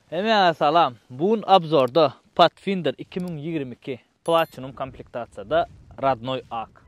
Hemmäňe salam. Bu gün obzorda Pathfinder 2022 Platinum komplektasiýada Radnoy ak.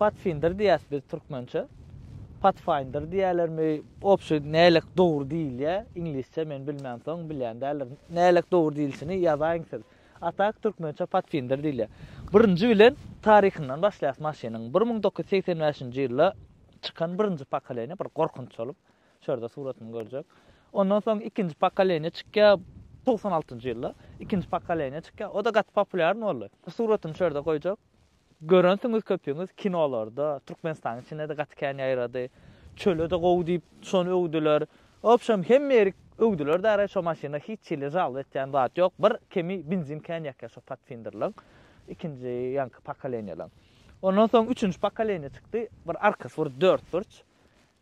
Patfindir diýýäs biz türkmençe. Pathfinder diýýälermi? Obşi nälik dogry diýilýä? Iňlisçe men bilmänsoň bilýän däldirin. Nälik dogry diýilişini ýazaýyň siz. Atak türkmençe patsindir diýilýär. Birinji bilen taryhyndan başlaýas maşynyň. Bir müň dokuz ýüz segsen bäşinji ýylda çykan birinji pokoleniýa bir gorkunç bolup, şu ýerde suratyny görjek. Ondan soň ikinji pokoleniýa çykýar, togsan altynjy ýylda ikinji pokoleniýa çykýar. O-da gaty populýarny boldy. Suratyny şu ýerde goýjak. Görensiňiz köpüňiz kinolarda, Türkmenistanyň içinde-de gaty kän ýaýrady. Çöle-de gowy diýip, şony öwdüler. Obşem, hemme ýeri öwdüler-de gaýra, şo maşyna hiç hili žalba etýän zat ýok. Bir kemi benzin kän ýakýar şo Patfinderleň, ikinji ýaňky pokoleniýalaň. Ondan soň üçünji pokoleniýa çykdy, bir arkasy bir dörtburç.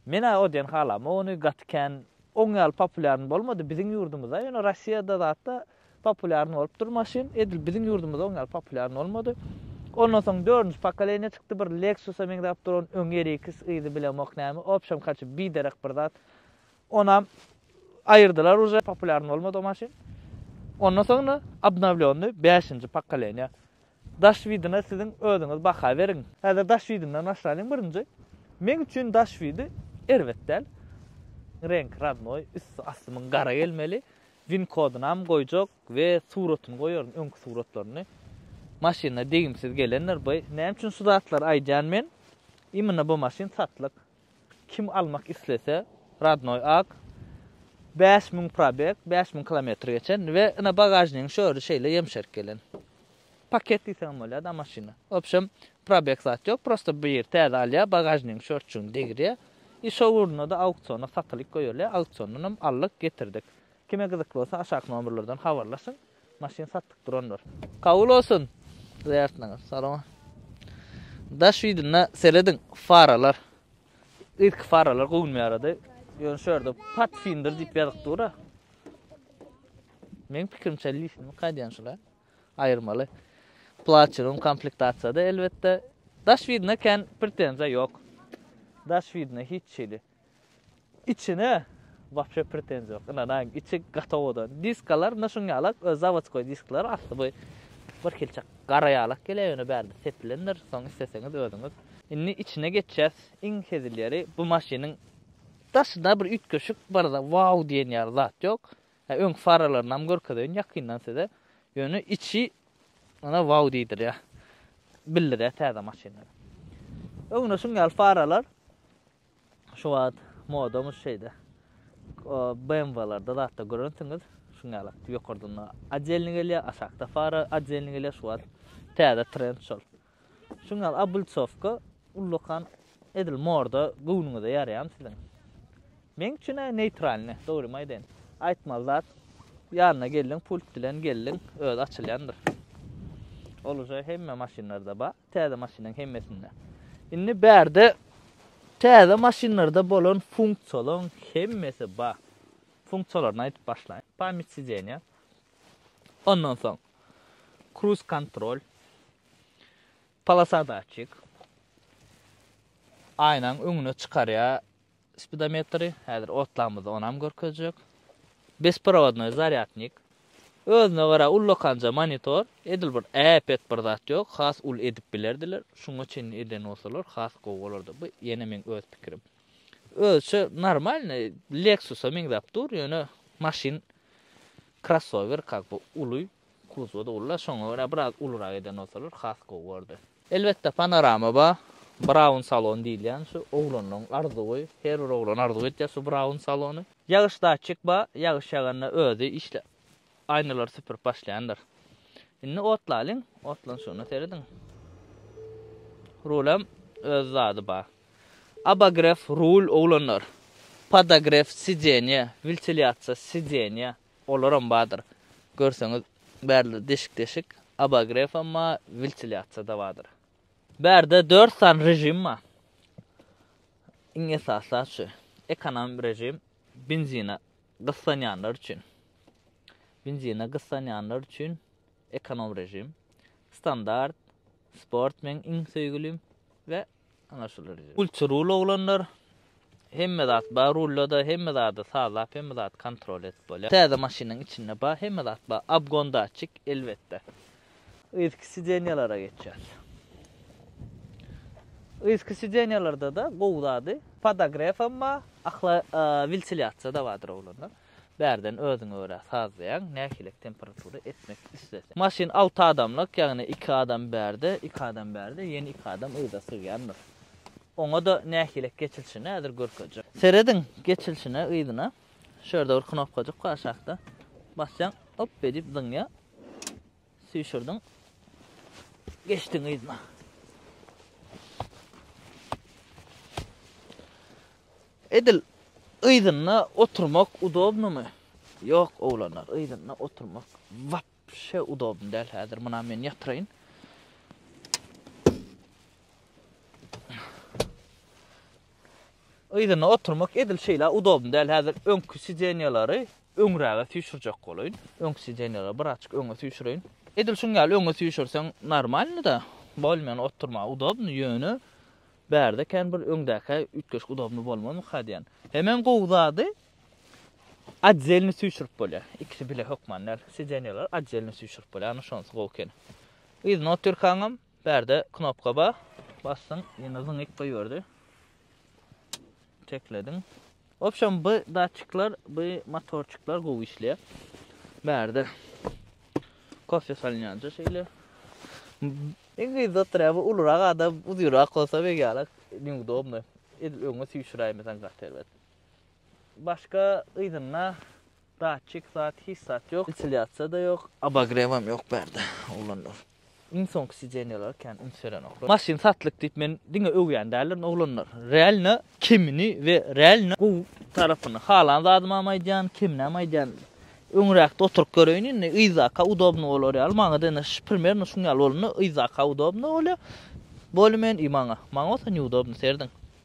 Men-ä o diýen halamok ony, gaty kän oň ýaly populýarny bolmady. Biziň ýurdumyzda, ýöne Rossiýada zat-da Populýarny bolupdyr maşyn. Edil biziň ýurdumyzda oňýaly populýarny bolmady. Ondan soň dördünji pokoleniýa çykdy, bir Lexus-a meňzäp duran, öňi RX yzy bilemok näme, obşem kaçy biderek bir zat. Onam aýyrdylar uje, populýarny bolmady o maşyn. Ondan soňra obnowlýonny bäşinji pokoleniýa. Daş widine siziň özüňiz baha beriň. Häzir daş widinden başlalyň birinji. Meň üçin daş widi erbet däl. Reňki rodnoý, üsti asty muň gara gelmeli. Win kodunam goýjak we suratyny goýaryn öňki suratlaryny. Maşynlar degimsiz gelendir by. Näme üçin şu zatlary aýdýan men? Imina bu maşyn satlyk. Kim almak islese radnoý ak. Bäş müň probeg, bäş müň kilometr geçen we ina bagažnigiň şöri şeýle ýemşerk gelen. Paket diýseňem bolýar da maşyna. Wobşem probeg zat ýok, prosta bir ýeri täze alýar, bagažnigiň şortçugyny degirýär. I şo ugrunda-da auksiona satylyk goýulýar, auksiondan hem aldyk, getirdik. Kime gyzykly bolsa aşaky nomerlerden habarlaşyň, maşyn satlyk durandyr. Kabul bolsun zyýartyňyz. Salama. Daş widynda serediň, faralar. Irki faralar göwünimi ýarady. Ýöne şu ýerde Pathfinder diýip ýazyk dur-a. Meň pikirimçe lisiniňki aýdýan şul-a. aýyrmaly. Platinum komplektasiýada elbetde. Daş widine kän pretenziýa ýok. Daş widine hiç hili. Içine wapşe pretenziýa ýok. Ynanaýyň, içi gatowadan. Diskalar ynha şuň ýalak, öz zawodskoý diskler, asly bu bir hilçe gara ýalak gelýär, ýöne bärde sepilendir, soň isleseňiz özüňiz. Indi içine geçýäs. Iň hezil ýeri, bu maşynyň daşynda bir üýtgeşik bar-da, wau diýen ýaly zat ýok. Öňki faralaryny görkezeýin ýakyndan size. Ýöne içi mana wow diýdirýär. Bildirýär täze maşynlary. Öňde şuň ýaly faralar şu wagt modamyz şeýde. BMW-lerde zatda görensiňiz şuň ýaly ýokardan odelni gelýär, aşakda fara odelni gelýär şu wagt täze trend şol. Şuň ýaly obultsowka ullakan edil morda göwnüňize ýaraýamy siziň? Meň üçin aý neýtralny, dogrymy aýdaýyn. Aýtmaly zat, ýanyna geldiň, pult bilen geldiň, özi açylýandyr. Ol uje hemme maşynlarda bar, täze maşynyň hemmesinde. Indi bärde täze maşynlarda bolan funksiýalaryň hemmesi bar. Funksiýalaryny aýdyp başlaýyn. Pamýat sidenýa, Ondan soň Cruise kontrol, polosadatçik, aýnaň öňüne çykarýar spidometri, häzir otlamyzda onam görkezjek. Besprovodnoý zarýadnik, özüne gara ullakanja monitor, edil bir äpet bir zat ýok, has uly edip bilerdiler, şuňa çenli eden bolsalar has gowy bolardy, bu ýene meň öz pikirim. Özüçe normalny Lexusa meňzäp dur, ýöne maşyn Krossower kak bu uly kuzowda ulla şoňa görä biraz ulurak eden bolsalar has gowy bordy. Elbetde panorama ba Braun salon diýilýän şu oglanlaň arzuwy her bir oglan arzuw etýär şu Braun salony. Ýagyş datçik ba ýagyş ýaganda özi işle aýnalary süpürip başlaýandyr. Indi otlalyň otlan şuna serediň. Rulem öz zady ba. Abogref, rul, oglanlar. Podogref, sidenýe, wiltilýasiýa, sidenýe, olaram bardyr. Görseňiz, bärde deşik-deşik, abogrefam bar, wiltilýasiýada bardyr. Bärde dört sany režim bar. Iň esaslarsy, ekonom režim, benzine gyssanýanlar üçin. Benzine gyssanýanlar üçin ekonom režim. Standart, sport meň iň söýgülim we Ana şular. Ultra rul oglanlar. Hemme zat bar rullada, hemme zady sazlap, hemme zady kontrol edip bolýar. Täze maşynyň içinde bar, hemme zat bar. Abgon datçik, elbetde. Yzky sidenýalara geçýär. Yzky sidenýalarda-da gowy zady, podagref hem bar, ahla, wentiliasiýa-da bardyr oglanlar. Bärden özüňe görä sazlaýaň, nähilek temperatura etmek isleseň. Maşyn alty adamlyk, ýagny iki adam bärde, iki adam bärde, ýene iki adam yza sygýandyr. Oňa-da nähilek geçilişini häzir görkezjek. Serediň geçilişine yzyna. Şu ýerde bir knopkajyk bar aşakda. Basýaň, hop, beýdip zyňýar. Süýşürdiň. Geçdiň yzyna. Edil yzynda oturmak udobnymy? Ýok, oglanlar, yzynda oturmak wapşe udobny däl. Häzir muna men ýatyraýyn. Yzyna oturmak edil şeýle udobny däl. Häzir öňki sidenýalary öňräge süýşürjek bolaýyn. Öňki sidenýalary bir açyk öňe süýşüreýin. Edil şuň ýaly öňe süýşürseň normalny-da, bolmany oturmaga udobny, ýöne bärde kän bir öňdäkä üýtgeşik udobny bolmazmyka diýýän. Hemem gowy zady, otdelny süýşürip bolýar. Ikisi bile hökman däl. Sidenýalary otdelny süýşürip bolýar, ana şonusy gowy ekeni. Yzyna otyrkaňam Bärde knopka bar. Basdyň, ýene zyňyp goýberdi. Teklediň. Wobşem bu datçikler, bu motorçyklar gowy işleýär. Bärde kofe salynýanja şeýle. Iň gyzy oturýar, bu ulurak adam, uzynrak bolsa beýgelek neudobno. Edil öňe süýşüräýmesen gaty erbet. Başga yzynda datçik zat hiç zat ýok. Wentiliasiýada ýok. Obogrewam ýok bärde oglanlar. Iň soňky sidenýalara kän üns berenoklar. Maşyn satlyk diýip men diňe öwýän däldirin oglanlar. Realno kemini we realno gowy tarapyny halan zadymam aýdýan, keminem aýdýan. Öňräkde oturyp göreýin indi yzaka udobno bolar ýaly. Maňada indi primernno şuň ýaly bolanda yzaka udobno bolýar. Bolymen i maňa. Maňa bolsa niudobno serediň.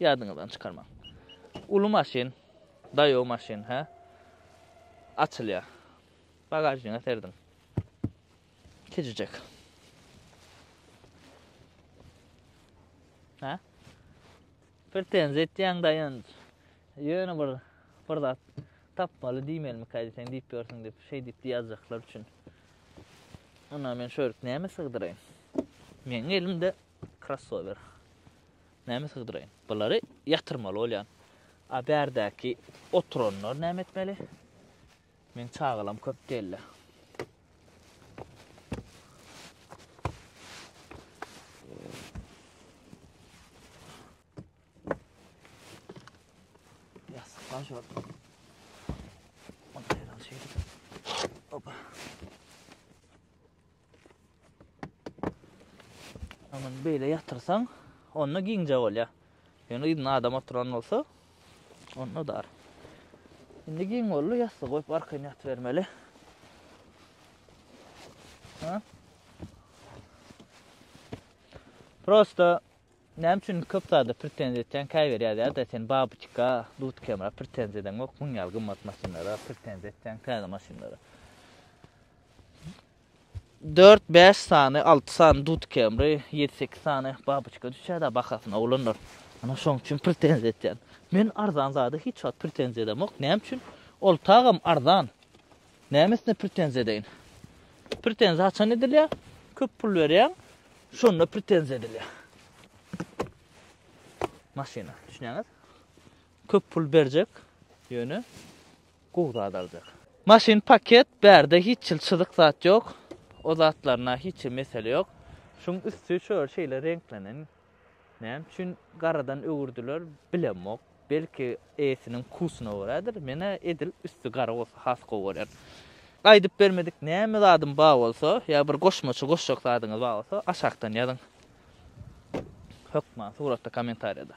Ýadyňyzdan çykarmaň. Uly maşyn, daýaw maşyn, hä? Açylýar. Bagažniga serdiň. Kiçijek. Hä? Pretenziýa etýäň daýanç. Ýöne bir bir zat tapmaly diýmelimi kädi sen diýip ýörsiň diýip, şeý diýip diýýärjaklar üçin. Onda men şu ýerik näme sygdyraýyn? Meniň elimde Krossower. Näme sygdyraýyn? Bulary ýatyrmaly bolýan. A bärdäki oturanlar näme etmeli? Men çagalam köp dälde. Ýasykdan şol. Opa. Aman beýle ýatyrsaň, onda giňje bolýar. Ýöne yzynda adam oturan bolsa, onda dar. Indi giň boldy, ýassyk goýup arkaýyn ýatybermeli. Ha? Prosta näme üçin köp zada pretenziýa etýän käbir ýa-da sen babuçka, dutkemra pretenziýa edeň ýok, müň ýal gymmat maşynlara pretenziýa etýän täze maşynlara. Dört-bäş sany, alty sany dud kemri, ýedi-sekiz sany babyçka düşýär-dä bahasyna, oglanlar. Ana, şoň üçin pretenziýa etýän. Men arzan zada hiç wagt pretenziýa edemok. Näme üçin? Ol tagam arzan. Nämesine pretenziýa edeýin? Pretenziýa haçan edilýär? Köp pul berýäň, şonda pretenziýa edilýär. Maşyna, düşünýäňiz? Köp pul berjek, ýöne Gowy zat aljak. Maşyn paket bärde hiç hil çyzyk zat ýok o zatlarna hiç hil mesele ýok şuň üsti şöl şeýle reňklenen näme üçin garadan öwürdiler bilemok belki eýesiniň kusyna görädir menä edil üsti gara bolsa has gowy görýän gaýdyp bermedik näme zadym bar bolsa ýa bir goşmaça goşjak zadyňyz bar bolsa aşakdan ýazyň hökman suratda kommentariýada.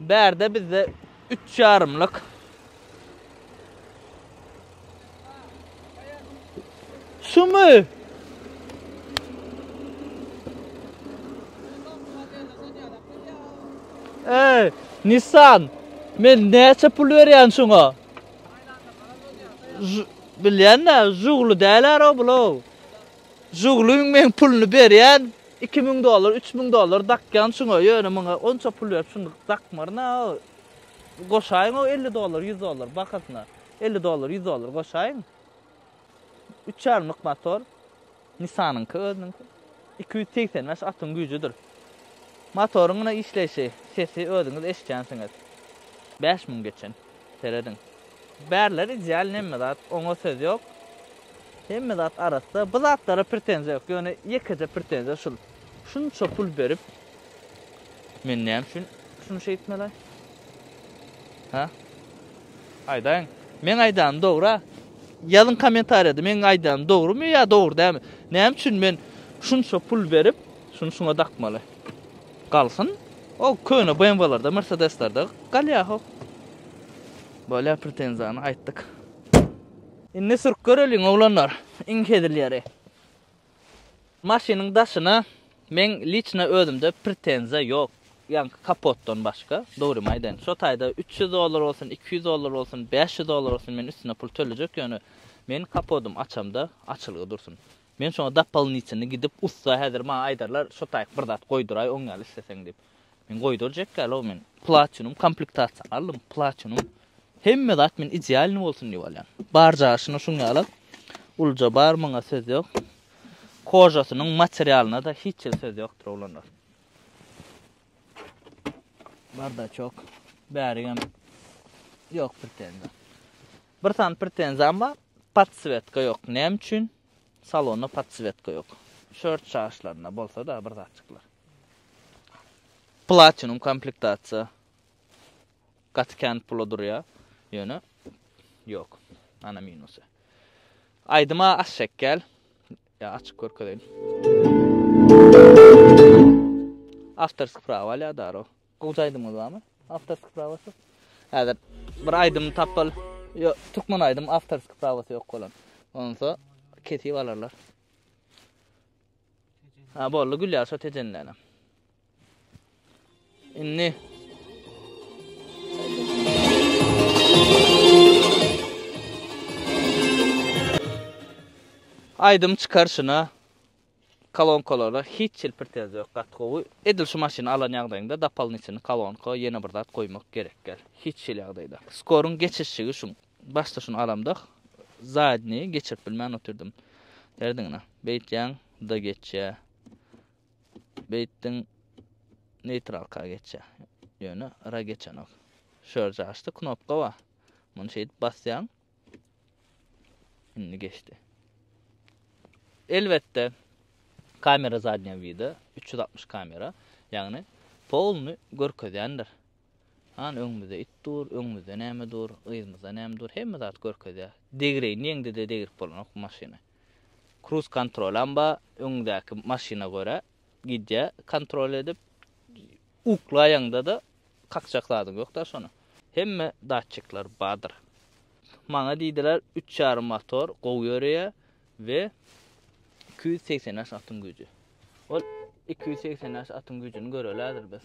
Bärde bizde üç ýarymlyk Şumy? Ey, Nissan, men näçe pul berýän şuňa? Bilýän-de, jugly däl ara bulaw. Žugluň men puluny berýän, iki müň dollar, üç müň dollar dakýan şuňa, ýöne muňa onça pul berip şuny dakmaryn-a, goşaýyň o elli dollar, ýüz dollar bahasyna, elli dollar, ýüz dollar goşaýyň. Üç ýarymlyk motor, Nisanyňky özüniňki, iki ýüz segsen bäş atyň güýjüdir. Motoryň ine işleýşi, sesi özüňiz eşidýänsiňiz. Bäş müň geçen. Serediň. Bärler ideal nemme zat, oňa söz ýok. Hemme zat arassa. Bu zatlara pretenziýa ýok. Ýöne ýekeje pretenziýa şul. Şunça pul berip men näme üçin şuny şeýtmeli? Ha? Aýdaýyň. Men aýdanym dogry. Ýazyň kommentariýada meň aýdanym dogrumy ýa dogry dälmi? Näme üçin men şunça pul berip şuny şuňa dakmaly? Galsyn o köne BMW-lerde, Mercedes-lerde galýahow. Bolýar pretenziýany aýtdyk. Indi sürüp göreliň oglanlar iň hezil ýeri. Maşynyň daşyna meň liçna özümde pretenziýa ýok, ýaňky kapotdan başga, dogrymy aýdaýyn. Şo taýda üç ýüz dollar bolsun, iki ýüz dollar bolsun, bäş ýüz dollar bolsun men üstüne pul tölejek ýöne meň kapodym açamda açylgy dursun. Men şoňa dopolnitelnyý gidip ussa häzir maňa aýdarlar şo taýyk bir zat goýduraý oň ýaly isleseň diýip. Men goýdurjak ýalog men platinum komplektasiýa aldym platinum hemme zat men idealnyý bolsun diýip alýan. Bar jaşyna şuň ýala ulja bar muňa söz ýok. Kožasynyň materialynada hiç hil söz ýokdur oglanlar. Bardaçok bärigem ýok pretenzýa. Bir sany pretenziyam bar. Podswetka yok. Näme üçin? Salonda podswetka yok. Şört çaşlarynda bolsa da bir zatçyklar. Platinum komplektatsiýa. Gaty kän pula durýar. Ýöne yok. Ana minusy. Aýdyma aş şekgel. Ya açyk görkezeýin. Awtorsk prawa alýar daro. Gowja aýdymyňyz barmy? Awtorskiý prawasyz. Häzir bir aýdym tapyl. Ýok, türkmen aýdym awtorskiý prawasy ýok bolan. Onsa kesip alarlar. Ha boldy Gülýar şo tejenlenem. Indi Aýdym çykar şuna. Kolonkalara hiç hil pretenziýa ýok gaty gowy. Edil şu maşyny alan ýagdaýyňda dapalnyçyny kolonka ýene bir zat goýmak gerekgel. Hiç hil ýagdaýda. Skoryň geçişigi şuň. Başda şuny alamdah zadnyýi geçirip bilmän otyrdym. Derdiňine. Beýtýäň da geçýä. Beýtdiň neýtralka geçýä. Ýöne ra geçenok. Şörje açdy knopka bar. Muny şeýdip basýaň. Şimdi geçti. Elbette kamera zadnýa wida 360 kamera, ýagny polny görkezýändir. Han öňümizde it dur, öňümizde näme dur, yzymyzda näme dur, hemme zat görkezýär. Degreýin diýeňde-de degrip bolanok bu maşyny. Kruz kontrol hem bar, öňündäki maşyna görä gidýär kontrol edip. Uklaýaňda-da Kakjak zadyň ýok-da şony. Hemme datçikler bardyr. Maňa diýdiler, üç ýarym motor gowy ýöreýär we iki ýüz segsen bäş atyň güýji. Ol iki ýüz segsen bäş atyň güýjüni göreli häzir biz.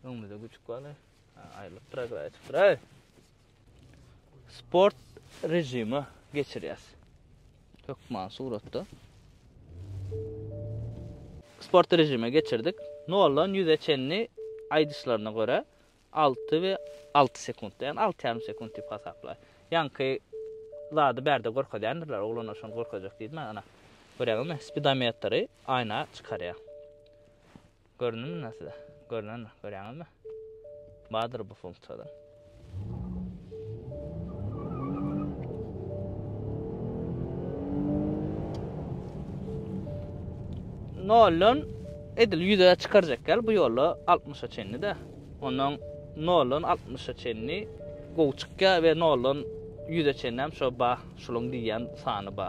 Öňümizde güjük bar. Aýrylyp dur, aýrylyp dur. Sport rejimi geçirýäs. Hökman suratda. Sport rejimi geçirdik. Noldan 100-e çenli aýdyşlaryna görä 6 we 6 sekundda, ýagny 6,5 sekund diýip hasaplaýar. Ýaňky zady bärde görkezýändirler, oglanlar şony görkezjek diýdim, ana. Görýäňizmi? Spidometri aýna çykarýar. Göründimi indi size? Görünenok, görýäňizmi? Bardyr bu funksiýada. Noldan edil ýüze çykarjak gel bu ýolda 60-a çenli de. Ondan noldan 60-a çenli gowy çykýar we noldan 100-e çenli hem şo ba, şulyň diýýän sany ba.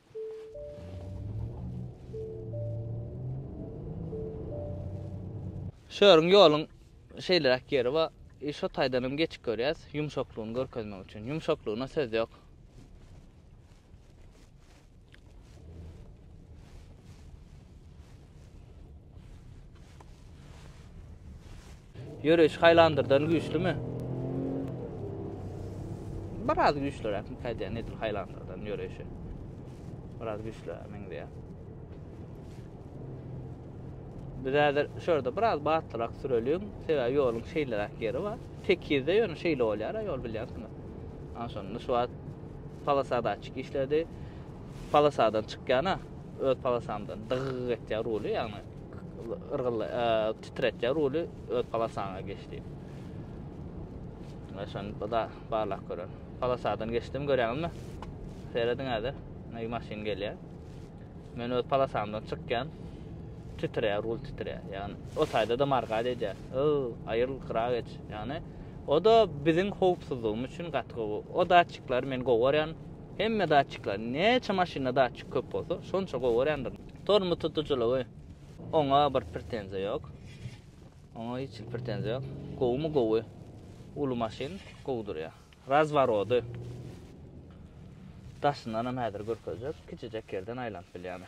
Şu ýeriň ýoluň şeýleräk ýeri bar. I şo taýdan hem geçip görýäs, ýumşaklygyny görkezmek üçin. Ýumşaklygyna söz ýok. Ýöreýiş Highlander-dan güýçlümi? Biraz güýçlüräk, käýdä nedir Highlander-dan ýöreýişi. Biraz güýçlüräk meňzeýär. Biz häzir şu ýerde biraz batlyrak süreliň, sebäbi ýoluň şeýleräk ýeri bar. Tekizde ýöne şeýle bolýar, ýol bilýärsiňiz. Ana şonda şu wagt polosadaçyk işledi. Polosadan çykýana öz palasaňdan dygygy etýär ruly ýagny yrgylla titretýär ruly öz palasaňa geçdi şon da barlak görer palasadan geçdim görýäňizmi serediň häzir nägi maşyn gelýär men öz palasaňdan çykýan titreýär rul titreýär ýagny o taýda da margad edýär o aýyl gyra geç ýagny o da biziň howpsuzlygymyz üçin gaty gowy o datçikler men gowy görýän Hemme datçikler, näçe maşynda datçik köp bolsa, şonça gowy örändir. Tormoz tutujylygy oňa bir pretenziýa ýok. Oňa hiç bir pretenziýa ýok. Gowumy gowy. Uly maşyn gowy durýar. Razworody. Daşyndan hem häzir görkezjek. Kiçijek ýerden aýlanyp bilýär.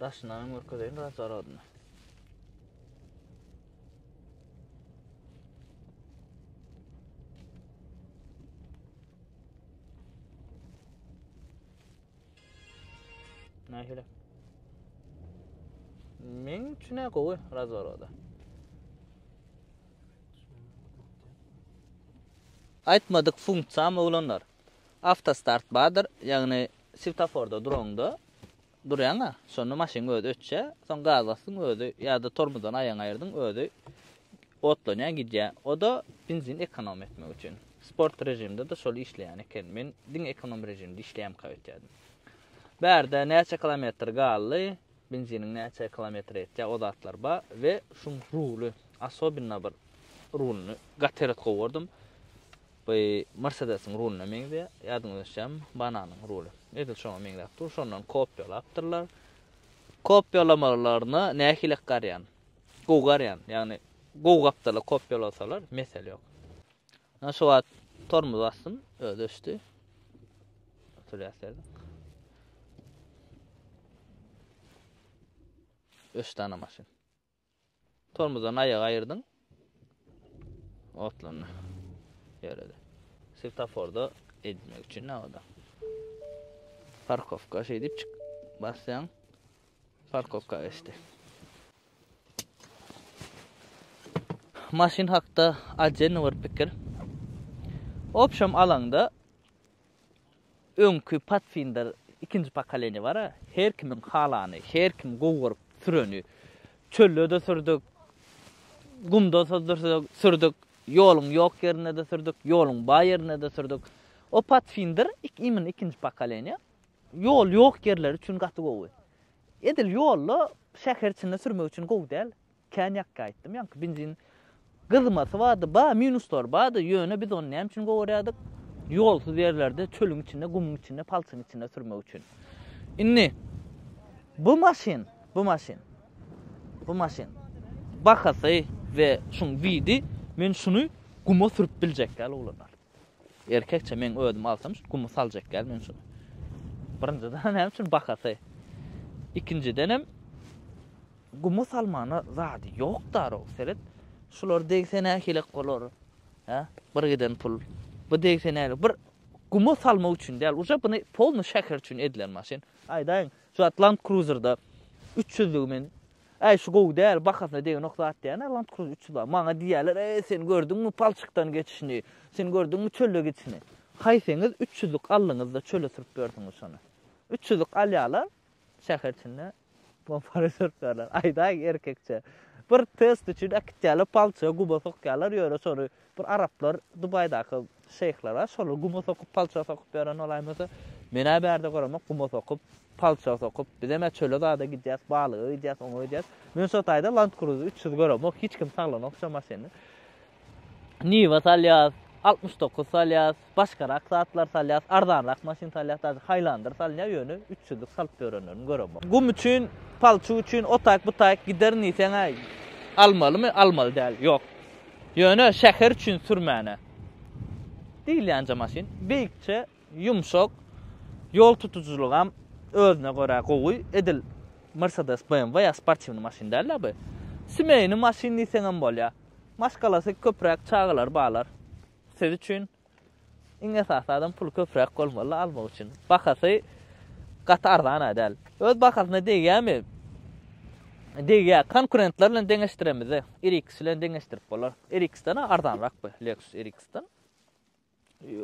Daşyndan hem görkezeýin biraz zaradyny. Nähili? Men üçin ne gowy razorada. Aýtmadyk funksiýam oglanlar. Avtostart bardyr, ýagny Swetaforda duraňda durýaň-a, şonda maşynyň özi öçýär, soň gaz basdyň özi ýa-da tormozdan aýagyňy aýyrdyň özi otlanýar gidýär. O-da benzin ekonom etmek üçin. Sport režimde-de şol işleýän eken. Men diňe ekonom režimde işleýämka öýtýärdim. Bärde näçe kilometr galdy, benziniň näçe kilometr ýetýär, o zatlar bar we şuň ruly, asobinna bir rulyny gaty eret gowardym. Bu Mersedesiň ruluna meňzeýär. Ýadyňyza düşýärmi? Bananyň ruly. Edil şoňa meňzäp dur. Şondan kopiýalapdyrlar. Kopiýalamalaryna nähili garýan? Gowy garýan. Ýagny gowy gapdala kopiýalasalar, mesele ýok. Ana şu wagt tormoz basdym, özi öçdi. Oturýarsyň. Öçdi ana maşyn. Tormozdan aýagy aýyrdyň. Otlandy. Ýöredi. Svetoforda edilmek üçin nabada. Parkowka şeýdip çyk. Basýaň. Parkowka geçdi. Maşyn hakda ajenny bir pikir. Opşam alaňda Öňki Pathfinder ikinji pokoleniýa bar-a, her kimiň halany, her kim gowy görüp süreni. Çölde-de sürdük, gumda-da sürdük, ýoluň ýok ýerinde-de sürdük, ýoluň bar ýerinde-de sürdük. O Pathfinder imенно ikinji pokoleniýa. Ýol ýok ýerler üçin gaty gowy. Edil ýolda şäher içinde sürmek üçin gowy däl. Kän ýakga aýtdym ýaňky benzin gyzmasy bardy bar minuslary bardy ýöne biz ony näme üçin gowarýardyk ýolsuz ýerlerde çölüň içinde gumuň içinde palçyň içinde sürmek üçin indi bu maşyn bu maşyn bu maşyn bahasy we şuň widi men şuny guma sürüp biljek däl oglanlar Erkekçe meň özüm alsam şu gumy saljak däl men şuny. Birinjiden näme üçin bahasy. Ikinjidenem gumy salmana zady ýok darow seret. Şular degse nähilek bolar. Hä? Bir giden pul. Bu degse nähilek. Bir gumy salmak üçin däl. Uje buny polny şäher üçin edilen maşyn. Aýdaýyň. Şu zat Land Cruiser-da üç ýüzlügi men, Äý, şu gowy däl, bahasyna degenok zat diýýärler, Land Cruiser üç ýüz bar. Maňa diýýärler, Äý, sen gördüňmi palçykdan geçişini, sen gördüňmi çölde gidişini? Haýsyňyz üç ýüzlük aldyňyz-da çöle sürüp berdiňiz şony? Üç ýüzlük alýarlar, şäher içinde pompara sürüp berler. Aýdaý erkekçe. Bir test üçin äkitýärler palçyga guba sokýarlar, ýöne şony Bir araplar Dubaýdaky şeýhlere şolar guma sokup palça sokup ýören bolaýmasa, men-ä bärde göremok guma sokup, palça sokup, bizem-ä çöle zada gidýäs, balyga gidýäs, oňa gidýäs. Men şo taýda Land Cruiser üç ýüzi göremok, hiç kim saglanok şo maşyny. Niwa salýas, altmyş dokuz salýas, başgarak zatlar salýas, arzanrak maşyn salýas, daže haýlandyr salynýa ýöne üç ýüzlük salyp ýörenlerini göremok. Gum üçin, palçyk üçin otaýk bu taýk giderin diýseňä almalymy, almaly däl, ýok. Ýöne şäher üçin sürmäne diýilýänje maşyn beýikçe, ýumşak, ýol tutujylygam özüne görä gowy, edil Mercedes, BMW ýa sportiwny maşyn dälda bu. Simeýny maşyn diýseňem bolýa. Maşgalasy köpräk çagalary balar. Siz üçin iň esasy adam pul köpräk bolmaly almak üçin. Bahasy gaty arzan-a däl. Öz bahasyna degýärmi? Degýär. Konkurentler bilen deňeşdiremizde, RX bilen deňeşdirip bolar. RX-den arzanrak bu, Lexus RX-den.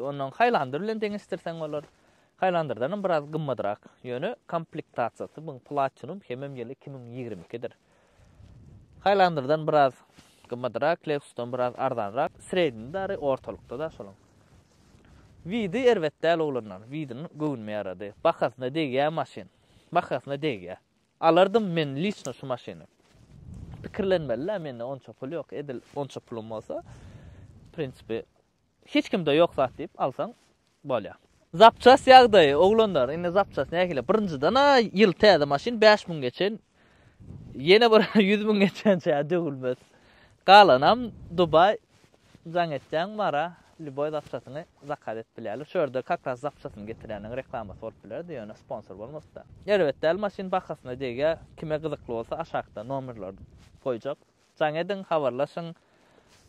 Ondan Highlander bilen deňeşdirseň bolar. Highlander-dan biraz gymmadrak. Ýöne komplektasiýasy bu Platinum hemem ýyly 2022-dir. Haýlandyrdan biraz gymmadyrak, Lexusdan biraz arzanrak, sredniý dary ortalykda-da şolaň. Widi erbet däl oglanlar, Widin göwnüme ýarady. Bahasyna degýä maşyn. Bahasyna degýä. Alardym men liçno şu maşyny. Pikirlenmeli-dä, mende onça pul ýok, edil onça pulum bolsa, prinsipi, Hiç kimde ýok zat diýip alsaň bolýar. Zapçast ýagdaýy oglanlar indi zapçast nähili birinjidena ýyl täze maşyn bäş müň geçen ýene bir ýüz müň geçençä döwülmez galanam dubaý jaň etýäň bara lýuboý zapçasyňy zakaz edip bilýärler şu ýerde kakras zapçasyny getirýäniň reklamasy bolup bilerdi ýöne sponsor bolmasda erbet däl maşyn bahasyna degýär kime gyzykly bolsa aşakda nomerleri goýjak jaň ediň habarlaşyň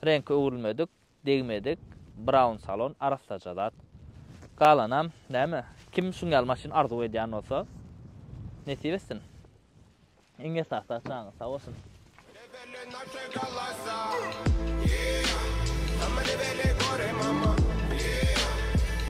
reňki öwrülmedik degmedik brown salon arassaja zat. Galanam näme? Kim şuň ýaly maşyn arzuw edýän bolsa, nesip etsin. Iň esasy janyňyz sag bolsun.